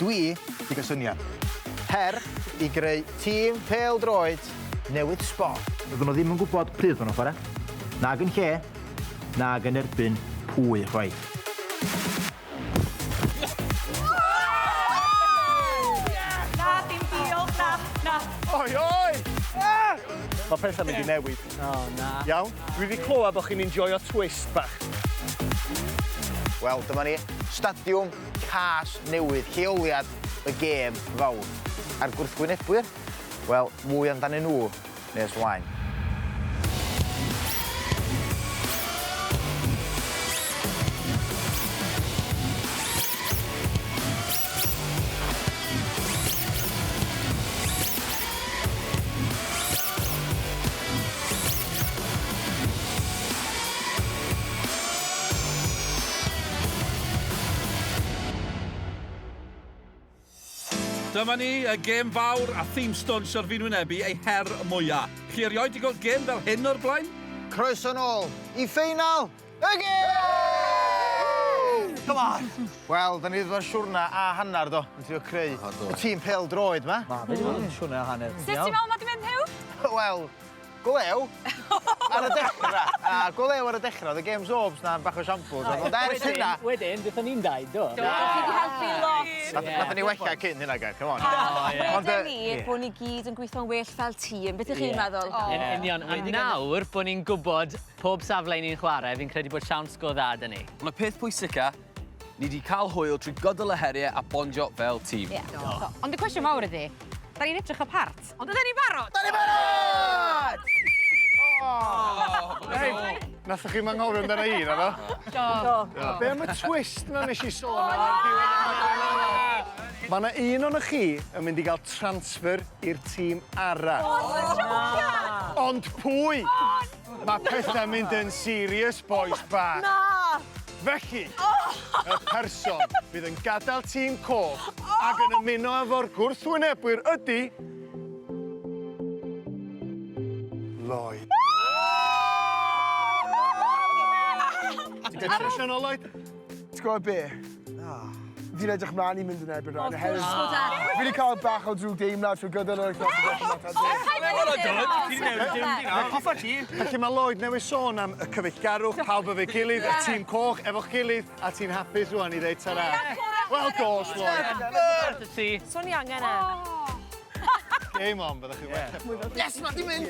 Dwi 'di ca'l syniad. Her i greu tîm pêl-droed newydd sbon. Doedden nhw ddim yn gwybod pryd o'n nhw'n chwarae, nag yn lle, nag yn erbyn pwy chwaith. Na, dim diolch, na, na. Oi, oi! Mae pethau'n mynd i newid. O, na. Iawn? Dwi 'di clywed bod chi'n enjoio twist bach. Wel, dyma ni, stadiwm Cas newydd, lleoliad y gêm fawr. A'r gwrthwynebwyr? Wel, mwy amdanyn nhw nes ymlaen. Dyma ni, y gêm fawr a thîm stwns o'r fi'n wynebu eu her mwya. Chi erioed di gweld gêm fel hyn o'r blaen? Croeso nôl i ffeinal y gêm! Come on! Wel, da ni wedi bod yn siwrna a hanner do, yn trio creu y tîm pêl-droed ma. Ma, fe di bod yn siwrna a hanner. Sut ti'n meddwl ma di mynd Huw? Wel, Go lew ar y dechra. Na, go lew ar y dechra. O'dd y games overs 'na yn bach o shambles ond ond ers hynna... Wedyn dethon ni'n dau do? Do, chi 'di helpu lot. Nath nathon ni wella cyn hynna Gair, c'm on. O ie. Ond yy... Wedon ni bo' ni gyd yn gwitho'n well fel tîm, beth 'ych chi'n meddwl? Ie. Yn union. A nawr bo' ni'n gwbod pob safle 'yn ni'n chware, fi'n credu bod siawns go dda 'da ni. On' y peth pwysica, ni 'di ca'l hwyl trwy gydol y herie a bondio fel tîm. Ie. Do. Do. Ond y cwestiwn mawr ydi, 'dan ni'n edrych y part? Ond yna ni'n barod! Da ni'n barod! Nathoch chi'm anghofio amdana i, naddo? Do. Do. Be am y twist 'na nes i sôn am ar diwedd y rhaglen arall? Ma' 'na un onoch chi yn mynd i ga'l transfer i'r tîm arall. O! Ti'n jôcio! Ond pwy? O na! Mae pethau mynd yn serious, boys bach. Na! Felly, y person fydd yn gadael tîm coch ac yn ymuno efo'r gwrthwynebwyr ydy... Lloyd. Ti'n gallu trwsio nôl, Lloyd? Ti'n gwybod be? Fi'n edrych mlaen i mynd yn erbyn rhain oherwydd... Wrth gwrs bod e! Fi 'di cael bach o drwg deimlad trwy gydol yr wythnos yn gwella Matt a Jake. Paid â neud e nawr! Ti 'di newid dy diwrnod di nawr. Hoffa ti! Felly mae Lloyd newydd sôn am y cyfeillgarwch, pawb efo'i gilydd, y tîm coch efo'ch gilydd, a ti'n hapus rŵan i ddeud ta-ra? Wel dos Lloyd! Swn i angen e. Game on, byddwch chi'n well. Yes, mae di mynd!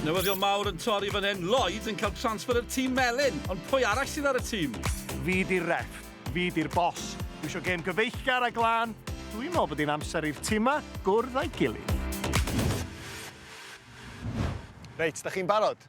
Newyddion mawr yn torri fan hyn. Lloyd yn cael transfer i'r tîm melyn. Ond pwy arall sydd ar y tîm? Fi di'r rep. Fi di'r bos. Dwi eisiau gêm gyfeillgar a glân. Dwi'n meddwl bod hi'n amser i'r timau gwrdd â'i gilydd. Reit, da chi'n barod?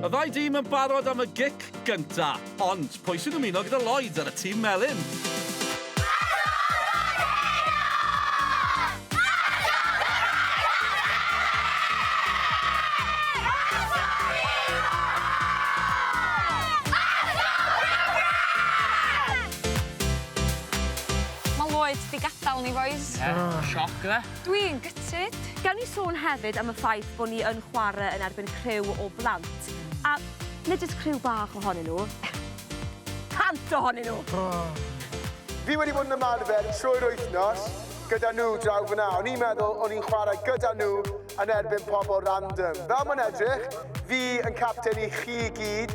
Y ddau dîm yn barod am y gic gynta, ond pwy sy'n ymuno gyda Lloyd ar y tîm melyn? Ma Lloyd 'di gadal ni bois. Ie. O! Sioc yfe? Dwi'n gutted. Gawn ni sôn hefyd am y ffaith bo ni yn chware yn erbyn criw o blant, a nid jyst criw bach ohonyn nhw, cant ohonyn nhw! O! Fi wedi bod yn ymarfer trwy'r wythnos gyda nhw draw fan'na. O'n i'n meddwl o'n i'n chwarae gyda nhw yn erbyn pobl random. Fel mae'n edrych, fi yn capten i chi i gyd,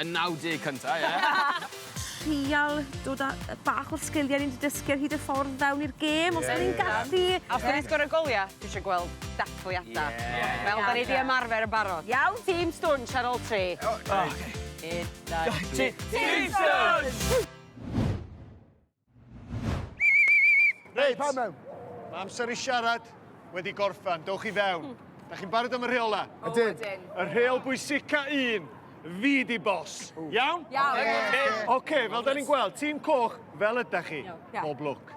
Y naw deg cynta, ie. Trial dod â yy bach o'r sgilie ni 'di dysgu ar hyd y ffordd fewn i'r gêm os 'yn ni'n gallu. Ie ie. Os 'dan ni'n sgoro golia, dwi isio gweld dathliada. Ie ie. Fel 'dan ni 'di ymarfer yn barod. Iawn? Tîm stwnsh ar ôl tri. O reit. Un, dau, tri. Tîm stwnsh! Reit. Pa mewn? Mae amser i siarad wedi gorffan. Dewch i fewn. Da chi'n barod am y rheol na? Ydyn. Y rheol bwysica un, fi di bos. Iawn? Iawn. Oce, okay, fel da ni'n gweld, tîm coch, fel ydych chi. Bob lwc.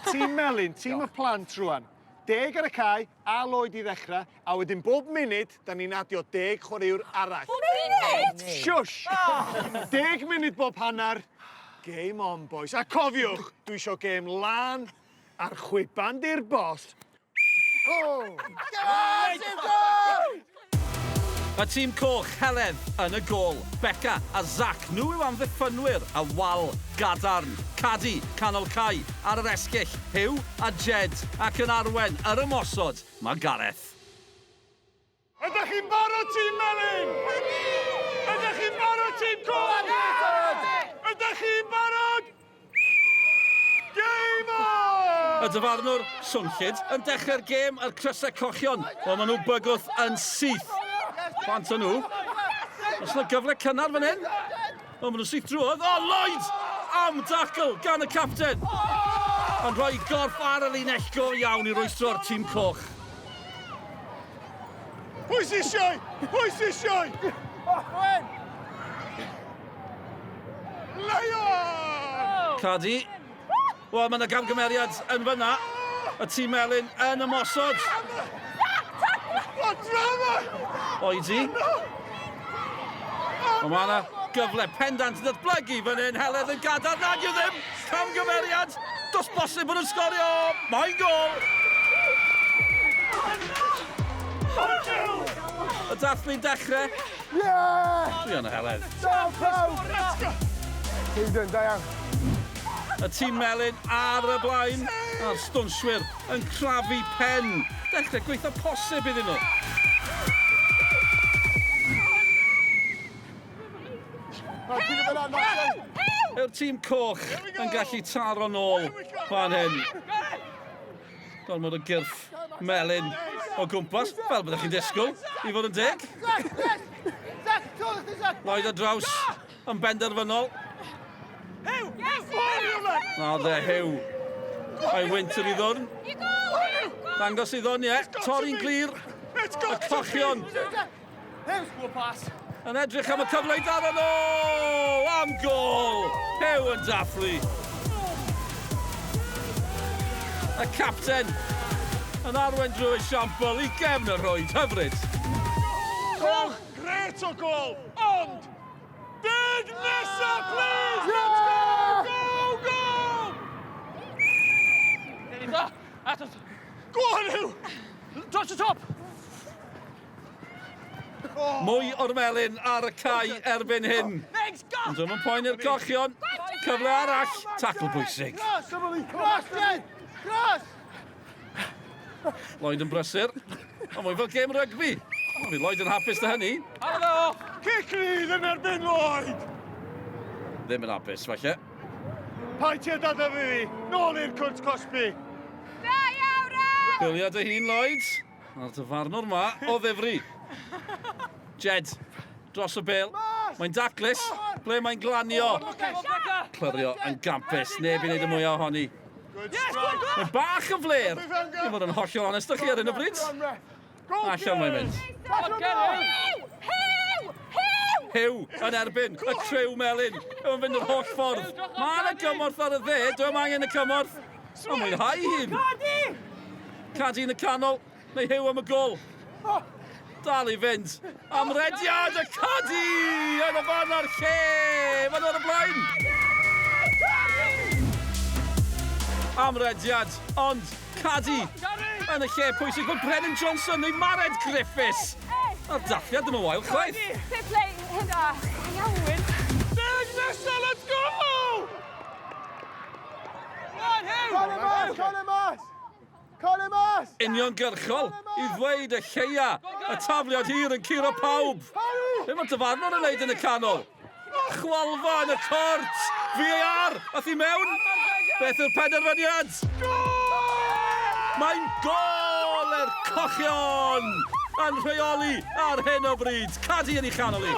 Tîm melyn, tîm y plant rwan. Deg ar y cae, A Lloyd i ddechrau, a wedyn bob munud, da ni'n adio deg chwaraewr arall. Bob munud?! Shush! Deg munud bob hanner. Game on, bois. A cofiwch, dwi isio gêm lân a'r chwiban di'r boss. Go! Go! Go! Y tîm coch, Heledd yn y gôl, Beca a Zac, nhw yw amddiffynwyr a wal gadarn, Cadi, canol cae, ar yr esgyll, Huw a Jed, ac yn arwen yr ymosod, mae Gareth. Ydych chi'n barod tîm melyn? Ydy! Ydych chi'n barod tîm coch? Ydy! Ydych chi'n barod? y dyfarnwr Swnllyd yn dechrau'r gêm a'r crysau cochion. O, maen nhw bygwth yn syth. Plant o nhw. Os yna gyfle cynnar fan hyn. O, maen nhw syth drwodd. O, Lloyd! Am dacl gan y capten. Yn rhoi gorff ar y linell go iawn i roestro'r tîm coch. Pwy sy'n sioe? Pwy sy'n sioe? Cadi. Wel, mae yna gamgymeriad yn fyna. Y tîm melyn yn ymosod. O, drama! Oedi. Ond mae yna gyfle pendant yn datblygu fan hyn. Heledd yn gadael nad yw ddim. Camgymeriad. Dos bosib bod yn sgorio. Mae'n gol! Y dathlu'n dechrau. Ie! Dwi yn y heledd. Da pawb! Let's go! Hayden, da iawn. Y tîm melyn ar y blaen, a'r stwnswyr yn crafu pen. Dechrau gweitha posib iddyn nhw. Yw'r tîm coch yn gallu taro'n ôl fan hyn? gormod o gyrff melyn o gwmpas, fel byddwch chi'n disgwyl, i fod yn deg. Lloyd a draws yn benderfynol. Na dde, Hew. Mae Winter i ddwrn. Dangos i ddwrn, ie. Torri'n glir. Y cochion Hew sgwr pas. Yn edrych am y cyfle i daro nhw! Am gol! Hew yn dathlu. Y capten yn arwen drwy siampl i gefn y rhwyd. Hyfryd! Gol! Gret o gol! Ond! Deg nesa, please! Let's go! Go, go! Dyn ni dda! Atos! Go on, Hew! Dros y top! Mwy o'r melyn ar y cae erbyn hyn. Ond ddim yn poen i'r cochion. Cyfle arall, tacl bwysig. Lloyd yn brysur. Ond mwy fel gêm rygbi. Ond fi Lloyd yn hapus dy hynny. Halo! Cic rhydd yn erbyn Lloyd! Ddim yn hapus, falle. Pai ti a dada fi, nôl i'r cwrt cosbi. Da iawn, Ren! Biliad dy hun, Lloyd. A'r dyfarnwr ma o ddifri. Jed, dros y bel. Mae'n daclus. Ble mae'n glanio? Clyrio yn gampus. Neb i wneud y mwyaf ohoni. Mae bach yn fler. Dwi'n fod yn hollol onest â chi ar hyn o bryd. Allan mae'n mynd. Hew yn erbyn y crew melyn. Yw'n fynd yr holl ffordd. Mae yna gymorth ar y dde. Dwi'n angen y cymorth. Mae'n mwynhau hyn! Cadi! Cadi yn y canol, neu hew am y gol. Dal i fynd. Amrediad y Cadi! Yn y fan a'r lle! Fan o'r blaen! Amrediad, ond Cadi! Yn y lle pwysig bod Brennan Johnson neu Mared Griffiths! A'r dathliad ddim yn wael chwaith. Fair play, hyn da. Iawn. Deg nesaf, let's go! Uniongyrchol, i ddweud y lleia. Y tafliad hir yn curo pawb. Be mae dyfarnwr yn wneud yn y canol? Chwalfa yn y cort! VAR! A thi mewn! Beth yw'r penderfyniad? Mae'n gol er cochion! Yn rheoli ar hyn o bryd. Cadi yn ei chanol i.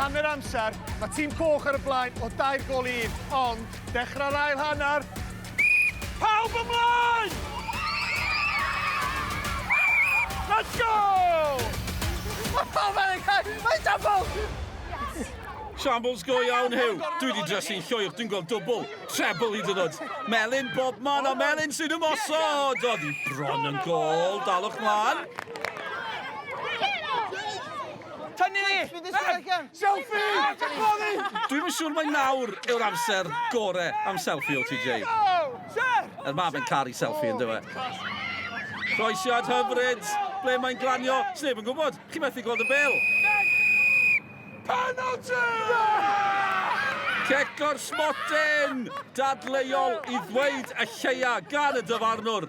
Hanner amser, mae tîm coch ar y blaen o dair gol i un, ond dechrau'r ail hanner. Pawb ymlaen! Let's go! Oh, mae'n cael, mae'n double! Shambles go iawn, Hugh. Dwi wedi drysu'n llwyr, dwi'n gweld dwbl, treble hyd yn oed. Melin bob man a Melin sy'n ymosod. Oedd hi bron yn gol, dalwch mlaen. Tynnu! Bydd y selegan! Selfie! Dwi'm yn siŵr mae nawr yw'r amser gore am selfie o TJ. Er mae fe'n caru selfie yn dywe. Croesiad hyfryd! Ble mae'n glanio? Sneb yn gwybod. Chi methu gweld y bel. Penalty! Cec o'r smotyn! Dadleuol i ddweud y lleia gan y dyfarnwr.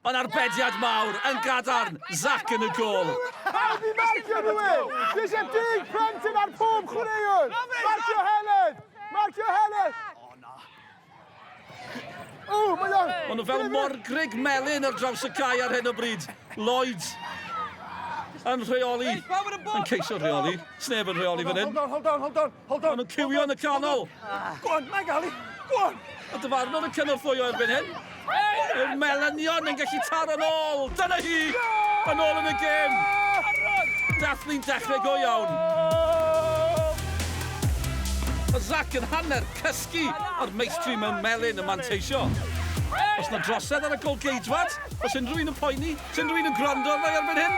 Mae'n arbediad mawr yn gadarn, Zach yn y gol. Pawb i marcio nhw e! Dwi eisiau deg plentyn ar pob chwaraewr! Marcio Helen! Marcio Helen! O, mae o'n... Mae nhw fel morgrig melyn ar draws y cae ar hyn o bryd. Lloyd yn rheoli, yn ceisio rheoli. Sneb yn rheoli fan hyn. Hold on, hold on, hold on. Hold on! Maen nhw'n cywio yn y canol! Go on, mae gael i! Go on! A dyfarnwr yn cynorthwyo erbyn hyn. Yw'r Melynion yn gallu taro'n ôl? Dyna hi! Yn ôl yn y gêm! Dathlu'n dechrau go iawn. Mae Zach yn hanner cysgu a'r meistri mewn melyn yn manteisio. Os na drosedd ar y golgeidwad, os unrhyw un yn poeni, os unrhyw un yn gwrando arna i erbyn hyn.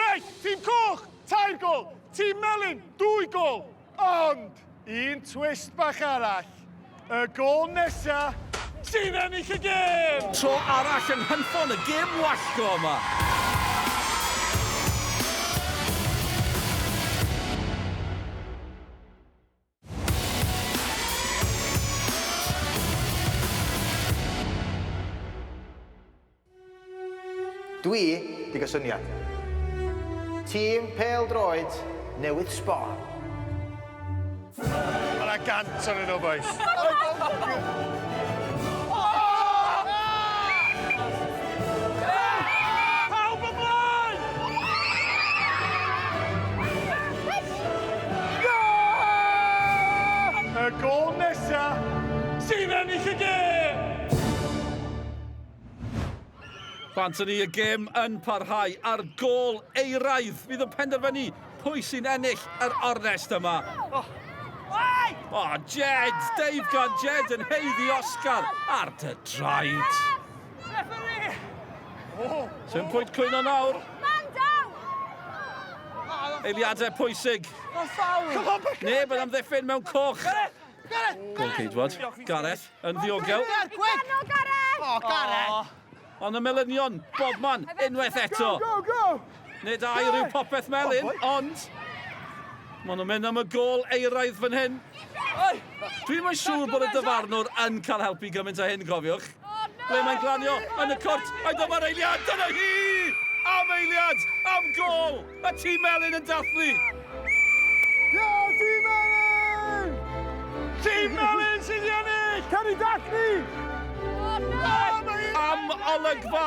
Reit, tîm coch! Tair gol! Tîm Melin, dwy gol! Ond, un twist bach arall. Y gol nesa sy'n ennill y gêm! Tro arall yn hynffon y gêm wallgo yma. Dwi 'di ga' syniad. Tîm pêl-droed newydd Sbon. Ma' 'na gant onyn nhw bois. Pawb ymlaen! Y gol nesa sy'n ennill y gêm! Bant ni y gêm yn parhau ar gol eiraidd. Fydd yn penderfynu pwy sy'n ennill yr ornest yma. Oh. O, Jed! Dave gan Jed yn heiddi Oscar ar dy draed. Referee! Oh! Sy'n pwynt cwyno nawr. Man down! Eiliadau pwysig. Neb yn amddiffyn mewn coch. Gol ceidwad. Gareth yn ddiogel. Gweno Gareth! O, Gareth! Ond y melynion, bobman, unwaith eto. Go, go, go! Nid air yw popeth melyn, oh ond... Maen nhw'n mynd am y gol eiraidd fan hyn. Dwi'n mae'n siŵr bod y dyfarnwr yn cael helpu gymaint o hyn, cofiwch. Ble mae'n glanio yn y cwrt, a dyma'r eiliad, dyna hi! Am eiliad, am gol, y tîm melyn yn dathlu. Ia, tîm melyn! Tîm melyn sydd i ennill! Ceri Dathlu! Am olygfa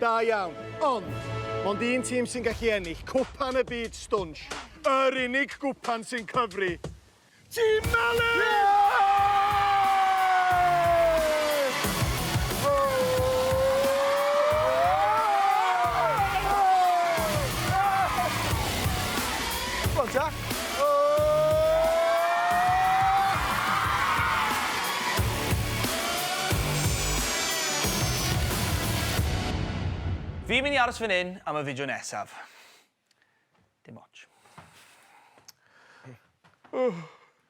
Da iawn, ond mond un tîm sy'n gallu ennill Cwpan y Byd Stwnsh. Yr unig gwpan sy'n cyfri. Tîm Melys! Go on ta. Fi'n mynd i aros fan hyn am y fideo nesaf. Dim ots.